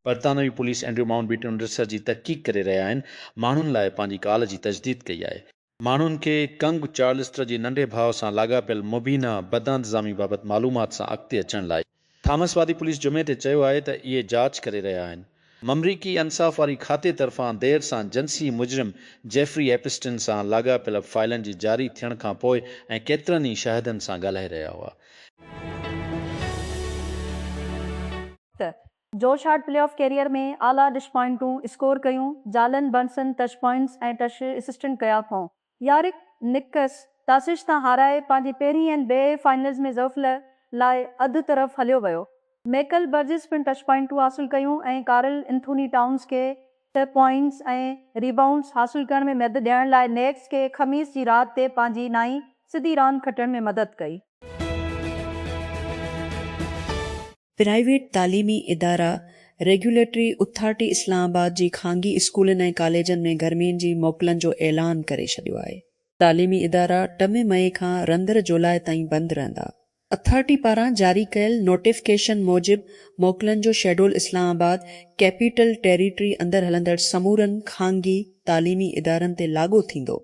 برطانوي police Andrew Mountbatten Amritsar جي تحقيق ڪري رهيا آهن ماڻهن لاء پنهنجي ڪال جي تجديد ڪئي آهي. ماڻهن کي ڪنگ چارلسٽر جي ننڍي ڀاء سان لاڳاپيل مبينا بدانتظامي بابت معلومات سان اڳتي اچڻ لاء. ٿامس وادي پوليس جمعي تي چيو آهي ته اهي جاچ ڪري رهيا آهن. ممريڪي انصاف واري کاتي طرفان دير سان جنسي مجرم جيفري ايپسٽن سان لاڳاپيل فائلن جي جاري ٿيڻ کان پوء ۽ ڪيترن ئي شاهدن سان ڳالهائي رهيا هئا. ته Josh Hart playoff career ۾ اعليٰ ڊش پوائنٽون اسڪور ڪيون، جالن برنسن ٽچ پوائنٽس ۽ ٽچ اسسٽنٽ ڪيا ڪئون. يارڪ نڪس ٽاسش تان هارائي پنهنجي پهرين اين بي اي فائنلز ۾ ظفل لاء اڌ طرف هليو ويو. ميڪل برجز پڻ ٽچ پوائنٽون حاصل ڪيون ۽ ڪارل انٿوني ٽائونز کي ٽه پوائنٽس ۽ ريبائونڊز حاصل ڪرڻ ۾ مدد ڏيڻ لاء نيڪس کي خميس جي رات تي پنهنجي نائين سڌي راند کٽڻ ۾ مدد ڪئي. پرائيويٽ تعليمي ادارا، ريگيوليٽري اٿارٽي اسلام آباد جي خانگي اسڪولن ۽ ڪاليجن ۾ گرمين جي موڪلن جو اعلان ڪري ڇڏيو آهي. تعليمي ادارا ٽن مئي کان رندر جولاء تائين بند رهندا. اٿارٽي پاران جاري ڪيل نوٽيفڪيشن موجب موڪلن جو schedule Islamabad capital territory اندر هلندڙ سمورن خانگي تعليمي ادارن تي لاڳو ٿيندو.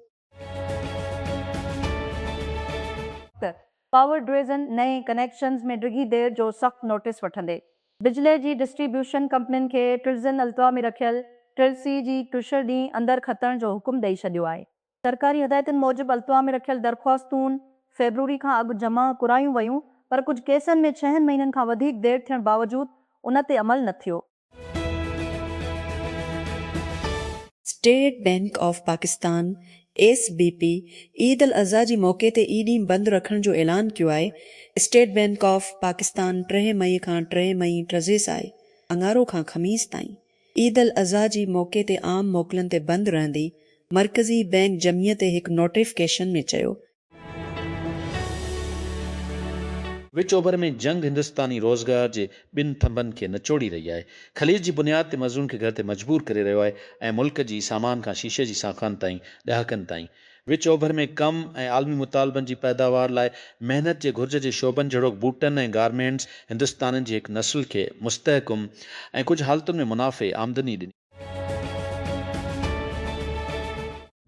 پاور ڊويزن نئين ڪنيڪشنز ۾ ڊگهي دير جو سخت نوٽيس وٺندي بجلي جي ڊسٽري بيوشن ڪمپنين کي ٽرزن التوا ۾ رکيل ٽرل سي جي ٽشر ڏينهن اندر کتڻ جو حڪم ڏئي ڇڏيو آهي. سرڪاري هدايتن موجب التوا ۾ رکيل درخواستون فيبروري کان اڳ جمع ڪرايون ويون پر ڪجهه ڪيسن ۾ ڇهن مهينن کان وڌيڪ دير ٿيڻ باوجود ان تي عمل نه ٿيو. State Bank of Pakistan, S B P, Eid al Adha جي موقعي تي اي ڏينهن بند رکڻ جو اعلان ڪيو آهي، اسٽيٽ بئنڪ آف پاڪستان ٽيهه مئي کان ٽيهه مئي، ٽرزيس آهي، اڱارو کان خميس تائين، عيد الاضحي جي موقعي تي عام موڪلن تي بند رهندي، مرڪزي بئنڪ جمعي تي هڪ نوٽيفڪيشن ۾ چيو وچ اوڀر ۾ جنگ هندستاني روزگار جي ٻن ٿنڀن کي نچوڙي رهي آهي، خليج جي بنياد تي مزدورن کي گهر تي مجبور ڪري رهيو آهي ۽ ملڪ جي سامان کان شيشي جي ساخن تائين ڏهاڪن تائين وچ اوڀر ۾ ڪم ۽ عالمي مطالبن جي پيداوار لاء محنت جي گهرج جي شعبن جهڙوڪ بوٽن ۽ گارمينٽس هندستانين جي هڪ نسل کي مستحڪم ۽ ڪجهه حالتن ۾ منافعي آمدني ڏني.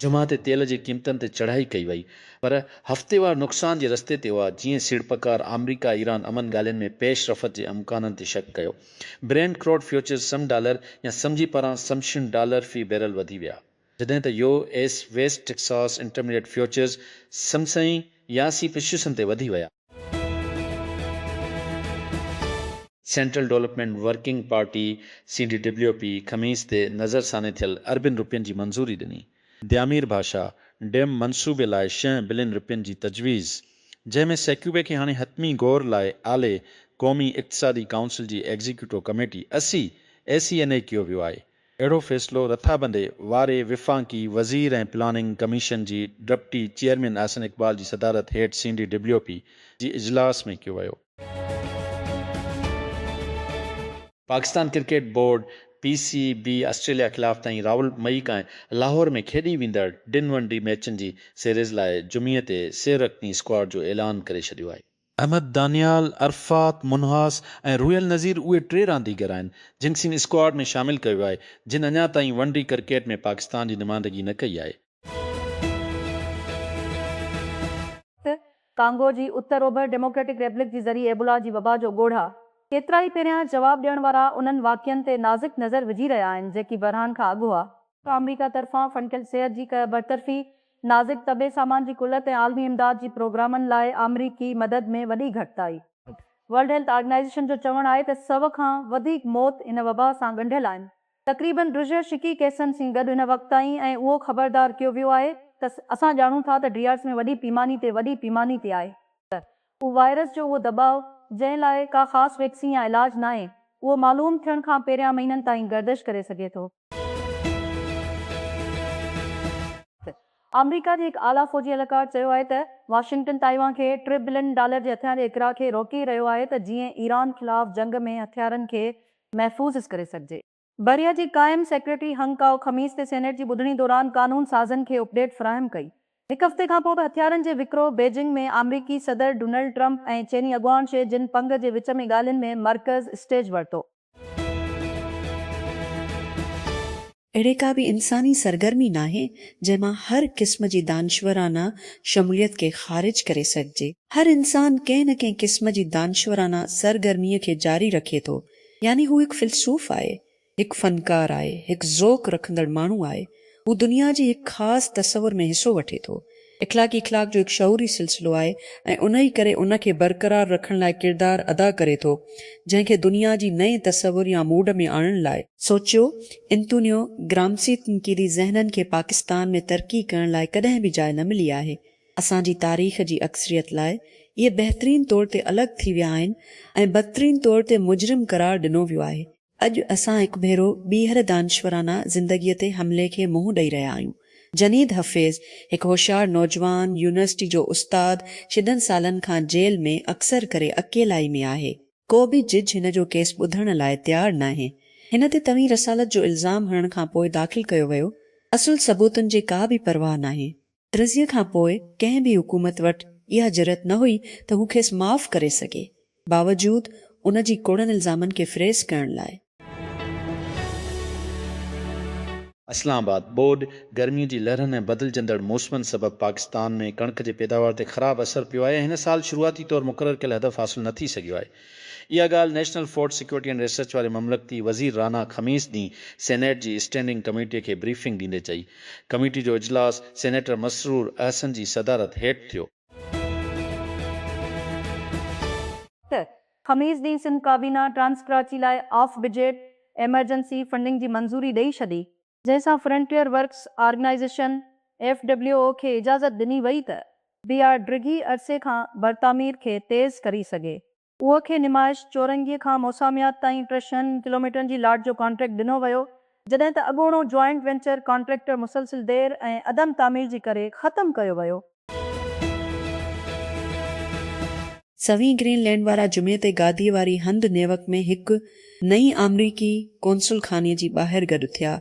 جمعه تي تيل جي قيمتن تي چڙهائي ڪئي وئي پر هفتيوار نقصان جي رستي تي هئا جيئن سيڙپڪار آمريڪا ايران امن ڳالهين ۾ پيش رفت جي امڪانن تي شڪ ڪيو Brent crude futures some dollar يا سم جي پاران سمشن ڊالر في بيرل وڌي ويا جڏهن ته U S West Texas intermediate futures سم سئين يا سي پشيسن تي وڌي ويا. Central development working party, C D W P, خميس تي نظرثاني ٿيل اربين رپين جي منظوري ڏني. ديامير ڀاشا ڊيم منصوبي لاء شينهن بلين رپين جي تجويز، جنهن ۾ سيڪوي کي هاڻي حتمي غور لاء اعلي قومي اقتصادي ڪائونسل جي ايگزيڪيوٽو ڪميٽي، اسي، اي سي اين اي ڪيو ويو آهي. اهڙو فيصلو رٿابندي واري وفاقي وزير ۽ پلاننگ ڪميشن جي ڊپٽي چيئرمين احسن اقبال جي صدارت هيٺ سين ڊي ڊبليو پي جي اجلاس ۾ ڪيو ويو. Pakistan cricket board, P C B, Australia خلاف تائين راول مئي کان لاهور ۾ کيڏي ويندڙ ٽن ون ڊي ميچن جي سيريز لاء جمعي تي سير رڪني اسڪواڊ جو اعلان ڪري ڇڏيو آهي. احمد دانيال، عرفات منهاس ۽ روحيل نذير اهي ٽي رانديگر آهن جن کين اسڪواڊ ۾ شامل ڪيو آهي جن اڃا تائين ون ڊي ڪرڪيٽ ۾ پاڪستان جي نمائندگي نه ڪئي آهي. ڪانگو جي اتر اوڀر ڊيموڪريٽڪ ريبلڪ جي ذري ايبولا جي وبا جو ڳوڙها، ڪيترائي پهريان جواب ڏيڻ وارا انهن واقعن تي نازڪ نظر وجهي رهيا آهن جيڪي بحران کان اڳ هئا. آمريڪا طرفان فنڪيل صحت جي ڪه برطرفي، نازڪ طبي سامان جي قلت ۽ عالمي امداد جي پروگرامن لاء آمريڪي مدد ۾ وڏي گهٽتائي. ورلڊ هيلٿ آرگنائيزيشن جو چوڻ آهي ته سؤ کان وڌيڪ موت ان وبا سان ڳنڍيل آهن. تقريبن ڊيرهه شڪي ڪيسن سين گڏ هن وقت تائين ۽ اهو خبردار ڪيو ويو آهي ته اسان ڄاڻون ٿا ته ڊيرهه ۾ وڏي پيماني تي وڏي پيماني تي آهي ته اهو وائرس جو اهو دٻاء جنهن لاء ڪا خاص ويڪسين يا علاج ناهي اهو معلوم ٿيڻ کان پهريان مهينن تائين گردش ڪري سگهي ٿو. آمريڪا جي هڪ اعليٰ فوجي اهلڪار چيو آهي ته واشنگٽن تائيوان کي ٽي بلين ڊالر جي هٿيارن جي اڪراه کي روڪي رهيو آهي ته جيئن ايران خلاف جنگ ۾ هٿيارن کي محفوظ ڪري سگهجي. بحريه جي قائم سيڪريٽري هنگ ڪائو خميس تي سينيٽ جي ٻڌڻي دوران قانون سازن کي اپ ڊيٽ فراهم ڪئي. هڪ هفتي کانپوء به هٿيارن جي وڪرو بيجنگ ۾ آمريڪي صدر ڊونلڊ ٽرمپ ۽ چيني اڳواڻ شي جن پنگ جي وچ ۾ ڳالهين ۾ مرڪز اسٽيج ورتو. اهڙي ڪا به انساني سرگرمي ناهي، جنهن مان هر قسم جي دانشورانه شموليت کي خارج ڪري سگهجي. هر انسان ڪنهن نه ڪنهن قسم جي دانشورانه سرگرميء کي جاري رکي ٿو، يعني هو هڪ فيلسوف آهي، هڪ فنڪار آهي، هڪ ذوق رکندڙ ماڻهو آهي. هو دنيا جي هڪ خاص تصور ۾ حصو وٺي ٿو. اخلاقي اخلاق جو هڪ شعوري سلسلو آهي ۽ انهيء ڪري ان کي برقرار رکڻ لاء ڪردار ادا ڪري ٿو، جنهن کي دنيا جي نئين تصور يا موڊ ۾ آڻڻ لاء. سوچيو، انتونيو گرامسي تنقيدي ذهنن کي پاڪستان ۾ ترقي ڪرڻ لاء ڪڏهن به جاء نه ملي آهي. اسان جي تاريخ جي اڪثريت لاء اهي بهترين طور تي الڳ ٿي ويا آهن ۽ بدترين طور تي مجرم قرار ڏنو ويو آهي. اڄ اسان هڪ ڀيرو ٻيهر دانشورانه زندگيء تي حملي کي منهن ڏئي رهيا آهيون. جنيد حفيظ، هڪ هوشيار نوجوان، يونيورسٽي جو استاد، شدن سالن کان جيل ۾ اڪثر ڪري اڪيلائي ۾ آهي. ڪو به جج هن جو ڪيس ٻڌڻ لاء تيار ناهي. هن تي توهين رسالت جو الزام هڻڻ کان پوء داخل ڪيو ويو، اصل ثبوتن جي ڪا به پرواهه ناهي. رضيء کان پوء ڪنهن به حڪومت وٽ اها جرئت نه هئي ته هو کيس معاف ڪري سگهي، باوجود ان جي ڪوڙن الزامن کي فريز ڪرڻ لاء. اسلام آباد، ٻوڏ، گرمي جي لهرن ۽ بدلجندڙ موسمن سبب پاڪستان ۾ ڪڻڪ جي پيداوار تي خراب اثر پيو آهي ۽ هن سال شروعاتي طور مقرر ڪيل هدف حاصل نه ٿي سگهيو آهي. اها ڳالهه national food security and research واري مملڪتي وزير رانا خميس ڏينهن سينيٽ جي اسٽينڊنگ ڪميٽي کي بريفنگ ڏيندي چئي. ڪميٽي جو اجلاس سينيٽر مسرور احسن جي صدارت هيٺ ٿيو. خميس ڏينهن سنڌ ڪابينا ٽرانس ڪراچي لاء آف بجيٽ ايمرجنسي فنڊنگ جي منظوري ڏئي ڇڏي. جنهن سان Frontier Works Organization, F W O, کي اجازت ڏني وئي ته بي آر ڊگهي عرصي کان برتعمير کي تيز ڪري سگهي. اوء کي نمائش چورنگي کان موساميات تائين ٽه شهن ڪلوميٽرن جي لاٽ جو ڪانٽريڪٽ ڏنو ويو، جڏهن ته اڳوڻو جوائنٽ وينچر ڪانٽريڪٽر مسلسل دير ۽ عدم تعمير جي ڪري ختم ڪيو ويو. سوين گرين لينڊ وارا جمعي تي گاديء واري هنڌ نيوڪ ۾ هڪ نئين آمريڪي قونصل خاني جي ٻاهر گڏ ٿيا.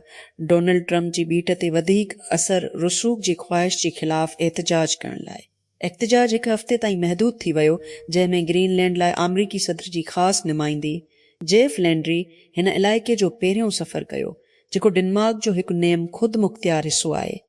ڊونلڊ ٽرمپ جي ٻيٽ تي وڌيڪ اثر رسوخ جي خواهش جي خلاف احتجاج ڪرڻ لاء. احتجاج هڪ هفتي تائين محدود ٿي ويو، جنهن ۾ گرين لينڊ لاء آمريڪي صدر جي خاص نمائندي جيف لينڊري هن علائقي جو پهريون سفر ڪيو، جيڪو ڊنمارڪ جو هڪ نيم خود مختيار حصو آهي.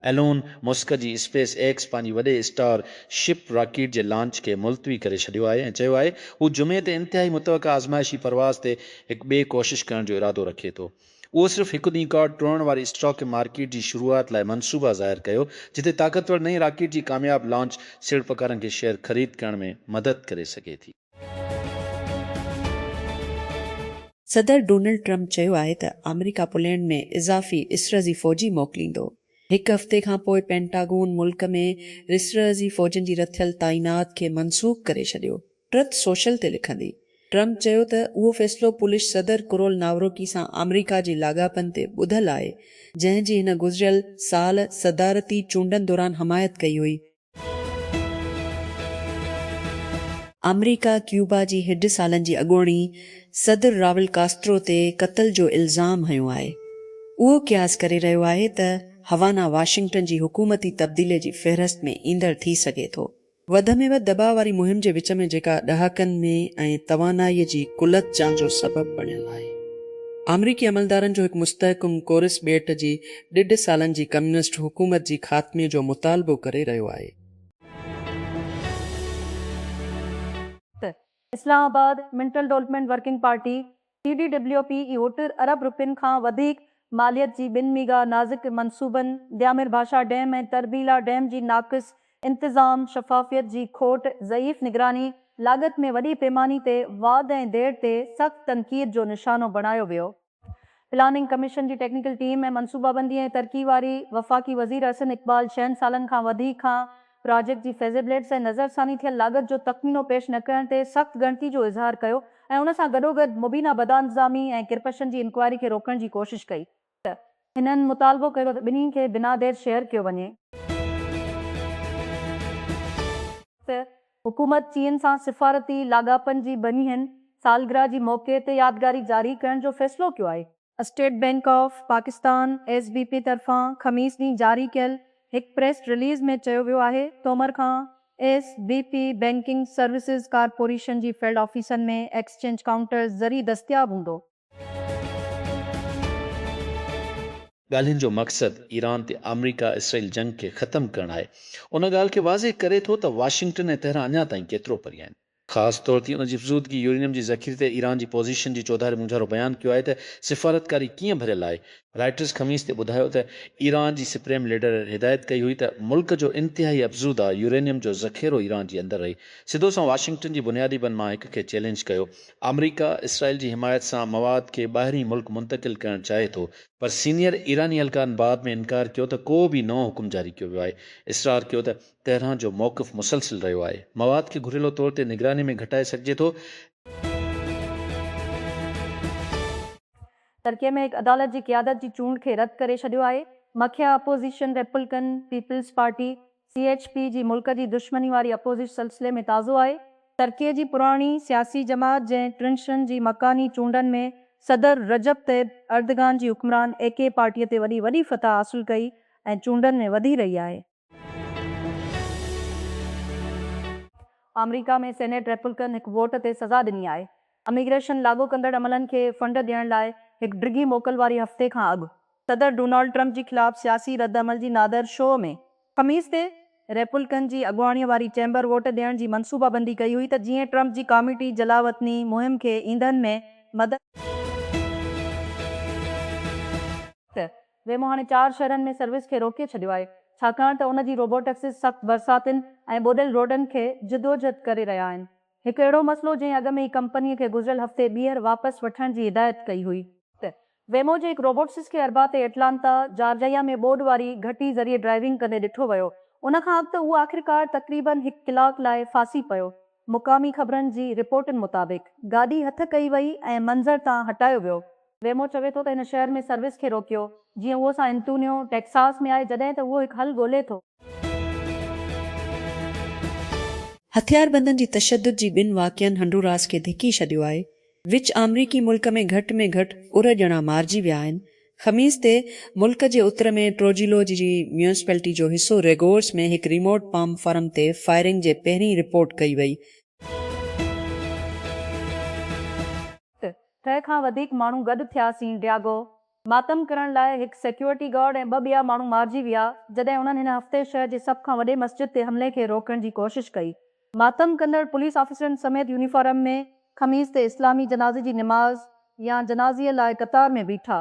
ايلون مسڪ جي اسپيس ايڪس پنهنجي وڏي اسٽار شپ راڪيٽ جي لانچ کي ملتوي ڪري ڇڏيو آهي ۽ چيو آهي هو جمعي تي انتهائي متوقع آزمائشي پرواز تي هڪ ٻي ڪوشش ڪرڻ جو ارادو رکي ٿو. اهو صرف هڪ ڏينهن کان ٽوڙڻ واري اسٽاڪ مارڪيٽ جي شروعات لاء منصوبا ظاهر ڪيو جتي طاقتور نئين راڪيٽ جي ڪامياب لانچ سيڙپڪارن کي شيئر خريد ڪرڻ ۾ مدد ڪري سگهي ٿي. صدر ڊونلڊ ٽرمپ چيو آهي ته آمريڪا پولينڊ ۾ اضافي اسرزي فوجي موڪليندو. هڪ هفتي کان پوء پينٽاگون ملڪ ۾ رسرزي فوجين جي رٿيل تعينات کي منسوخ ڪري ڇڏيو. ٽرٿ سوشل تي لکندي ٽرمپ چيو ته اهو فيصلو پولش صدر ڪرول ناوروڪي سان آمريڪا جي لاڳاپن تي ٻڌل آهي جنهن جي هن گذريل سال صدارتي چونڊن دوران حمايت ڪئي هئي. آمريڪا ڪيوبا جي هيڊ سالن جي اڳوڻي صدر راول ڪاسترو تي قتل جو الزام هنيو آهي. اهو قياس ڪري رهيو آهي ته هوانا واشنگٽن جي حڪومتي تبديلي جي فهرست ۾ ايندڙ ٿي سگهي ٿو. وڌ ۾ وڌ دٻاء واري مهم جي وچ ۾ جيڪا ڏهاڪن ۾ ۽ توانائي جي قلت جان جو سبب بڻيل آهي. آمريڪي عملدارن جو هڪ مستحڪم ڪورس ٻيٽ جي ڏيڍ سالن جي ڪميونسٽ حڪومت جي خاتمي جو مطالبو ڪري رهيو آهي. ته اسلام آباد منٽل development working party, C D W P, اهو ٽر ارب روپين کان وڌيڪ ماليت جي ٻن ميگا نازڪ منصوبن ديامير ڀاشا ڊيم ۽ تربيلا ڊيم جي ناقص انتظام، شفافيت جي کوٽ، ضعيف نگراني، لاڳت ۾ وڏي پيماني تي واڌ ۽ دير تي سخت تنقيد جو نشانو بڻايو ويو. پلاننگ ڪميشن جي ٽيڪنيڪل ٽيم ۽ منصوبابندي ۽ ترقي واري وفاقي وزير احسن اقبال ڇهن سالن کان وڌيڪ کان پراجيڪٽ جي فيزيبلٽس ۽ نظرثاني ٿيل لاڳت جو تخمينو پيش نه ڪرڻ تي سخت ڳڻتي جو اظهار ڪيو ۽ ان سان گڏوگڏ مبينا بدانتظامي ۽ ڪرپشن جي انڪوائري کي روڪڻ جي ڪوشش ڪئي ته هنن مطالبو ڪيو ته ٻنهي کي بنا دير شيئر ڪيو وڃي. ته حڪومت چين سان سفارتي لاڳاپن جي ٻنهين سالگرهه جي موقعي تي يادگاري جاري ڪرڻ جو فيصلو ڪيو آهي. State Bank of Pakistan, S B P, طرفان خميس ڏينهن جاري ڪيل هڪ پريس رليز ۾ چيو ويو آهي تومر کان S B P banking services corporation جي فيلڊ آفيسن ۾ ايڪسچينج ڪائونٽرز ذريعي دستياب هوندو. ڳالهين جو مقصد ايران تي آمريڪا اسرائيل جنگ کي ختم ڪرڻ آهي ان ڳالهه کي واضح ڪري ٿو ته واشنگٽن ۽ تهران اڃا تائين ڪيترو پري آهن. خاص طور تي ان جي افزودگي يورينيم جي ذخيري تي ايران جي پوزيشن جي چوڌاري مونجهارو بيان ڪيو آهي ته سفارتڪاري ڪيئن ڀريل آهي. رائٽرز خميس تي ٻڌايو ته ايران جي سپريم ليڊر هدايت ڪئي هئي ته ملڪ جو انتهائي افزوده يورينيم جو ذخيرو ايران جي اندر رهي. سڌو سان واشنگٽن جي بنيادي بن مان هڪ کي چئلينج ڪيو آمريڪا اسرائيل جي حمايت سان مواد کي ٻاهرين ملڪ منتقل ڪرڻ چاهي ٿو پر سينيئر ايراني اهلڪارن بعد ۾ انڪار ڪيو ته ڪو به نئون حڪم جاري ڪيو ويو آهي اصرار ڪيو ته تهران جو موقف مسلسل رهيو آهي مواد کي گهريلو طور تي نگراني ۾ گهٽائي سگهجي ٿو ترڪي ۾ هڪ عدالت جي قيادت جي چونڊ کي رد ڪري ڇڏيو آهي مکيه opposition Republican People's Party C H P جي ملڪ جي دشمني واري اپوزش سلسلي ۾ تازو آهي. ترڪيء جي پراڻي سياسي جماعت جنهن ٽرنشن جي مڪاني چونڊن ۾ صدر رجب طيب اردگان جي حڪمران اي ڪي پارٽيء تي وڏي وڏي فتح حاصل ڪئي ۽ چونڊن ۾ وڌي رهي آهي. آمريڪا ۾ سينيٽ ريپلڪن هڪ ووٽ تي سزا ڏني آهي. اميگريشن لاڳو ڪندڙ عملن کي فنڊ ڏيڻ لاء هڪ ڊگهي موڪل واري هفتي کان اڳ صدر ڊونالڊ ٽرمپ جي خلاف سياسي رد عمل جي نادر شو ۾ خميس تي ريپولڪن جي اڳواڻيء واري چيمبر ووٽ ڏيڻ جي منصوبه بندي ڪئي هئي ته جيئن ٽرمپ جي ڪاميٽي جلاوطني مهم کي ايندن ۾ مدد ڪري ويمو هاڻي چار شهرن ۾ سروس کي روڪي ڇڏيو آهي ڇاڪاڻ ته ان جي روبوٽڪسز سخت برساتين ۽ ٻوڏيل روڊن کي جدوجھد ڪري رهيا آهن. هڪ اهڙو مسئلو جنهن اڳ ۾ ئي ڪمپني کي گذريل هفتي ٻيهر واپس وٺڻ جي هدايت ڪئي هئي. ته ويمو جي هڪ روبوٽسس کي اربع تي اٽلانتا، جارجيا ۾ ٻوڏ واري گهٽي ذريعي ڊرائيونگ ڪندي ڏٺو ويو. ان کان اڳ ته اهو آخرڪار تقريبن هڪ ڪلاڪ لاء ڦاسي پيو. مقامي خبرن جي رپورٽن مطابق گاڏي هٿ ڪئي وئي ۽ منظر تان هٽايو ويو. ويمو چوي ٿو ته هن شهر ۾ سروس کي روڪيو جيئن اهو سان انتونيو، ٽيڪساس ۾ آهي جڏهن ته اهو هڪ حل ڳولي ٿو. هٿياربندن جي تشدد جي ٻن واقعن هنڊوراس کي ڌڪي ڇڏيو آهي، وچ آمريڪي ملڪ ۾ گهٽ ۾ گهٽ ارهه ڄڻا مارجي ويا آهن، خميس تي ملڪ جي اتر ۾ ٽروجيلو جي ميونسپلٽي جو حصو ريگورس ۾ هڪ ريموٽ پام فرم تي فائرنگ جي پهرين رپورٽ ڪئي وئي، ٽي سئو کان وڌيڪ ماڻهو گڏ ٿيا سين ڊياگو ماتم ڪرڻ لاء هڪ سيڪيورٽي گارڊ ۽ ٻه ٻيا ماڻهو مارجي ويا جڏهن انهن هن هفتي شهر جي سڀ کان وڏي مسجد تي حملي کي روڪڻ جي ڪوشش ڪئي. ماتم ڪندڙ پوليس آفيسرن سميت يونيفارم ۾ خميس تي اسلامي جنازي جي نماز يا جنازي لاء قطار ۾ بيٺا.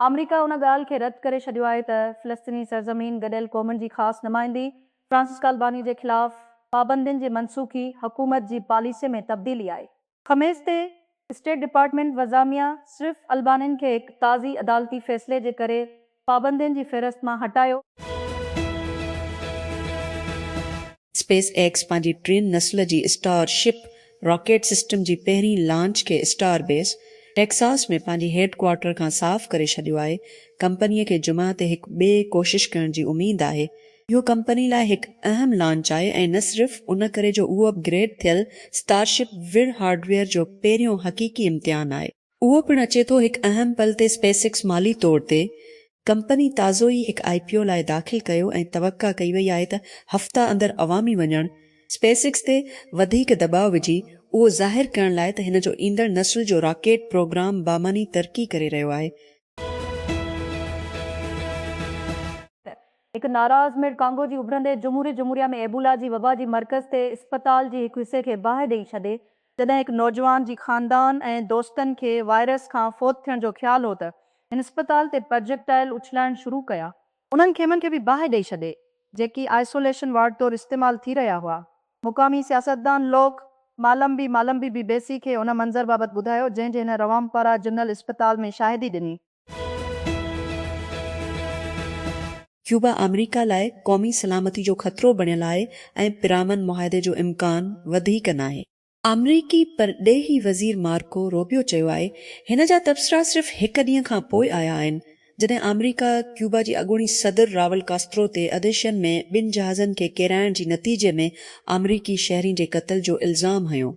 آمريڪا ان ڳالهه کي رد ڪري ڇڏيو آهي ته فلسطيني سرزمين گڏيل قومن جي خاص نمائندي فرانسسڪا الباني جي خلاف پابندين جي منسوخي حڪومت جي پاليسي ۾ تبديلي آهي. خميس تي اسٽيٽ ڊپارٽمينٽ وزاميا صرف البانين کي هڪ تازي عدالتي فيصلي جي ڪري پابندين جي فهرست مان هٽايو. اسپيس ايڪس پنهنجي ٽين نسل جي اسٽار شپ راڪيٽ سسٽم جي پهرين لانچ کي اسٽار بيس ٽيڪساس ۾ پنهنجي هيڊ ڪوارٽر کان صاف ڪري ڇڏيو آهي، ڪمپني کي جمعه تي هڪ ٻئي ڪوشش ڪرڻ جي اميد آهي اهو ڪمپني لاء هڪ اهم لانچ آهي ۽ نه صرف ان ڪري جو اهو اپ گريڊ ٿيل اسٽار شپ وير هارڊويئر جو پهريون حقيقي امتحان آهي، اهو پڻ اچي ٿو هڪ اهم پل تي اسپيس ايڪس مالي طور تي ڪمپني تازو ئي هڪ آئي پي او لاء داخل ڪيو ۽ توقع ڪئي وئي آهي ته هفته اندر عوامي وڃڻ اسپيس ايڪس تي وڌيڪ دٻاء وجهي اهو ظاهر ڪرڻ لاء ته هن جو ايندڙ نسل جو راڪيٽ پروگرام بامعني ترقي ڪري رهيو آهي. هڪ ناراض ميڙ ڪانگو جي اڀرندي جمهوري جمهوريا ۾ ايبولا جي وبا جي مرڪز تي اسپتال جي هڪ حصي کي باهه ڏئي ڇڏي، جڏهن هڪ نوجوان جي خاندان ۽ دوستن کي وائرس کان فوت ٿيڻ جو خيال هو ته هن اسپتال تي پرجيڪٽائل اڇلائڻ شروع ڪيا. انهن خيمن کي به باهه ڏئي ڇڏي، جيڪي آئسوليشن وارڊ طور استعمال ٿي رهيا هئا. مقامي سياستدان لوڪ مالمبي Mallambi بي بي سي کي ان منظر بابت ٻڌايو، جنهن جي هن روامپارا جنرل اسپتال ۾ شاهدي ڏني. ڪيوبا آمريڪا لاء قومي سلامتي جو خطرو بڻيل آهي ۽ پرامن معاهدي جو امڪان وڌيڪ ناهي. آمريڪي پرڏيهي وزير مارڪو روبيو چيو آهي هن جا تبصرا صرف هڪ ڏينهن کان پوء آيا آهن جڏهن آمريڪا ڪيوبا جي اڳوڻي صدر راول ڪاسترو تي اديشين ۾ ٻن جهازن کي ڪيرائڻ جي نتيجي ۾ آمريڪي شهرين جي قتل جو الزام هنيو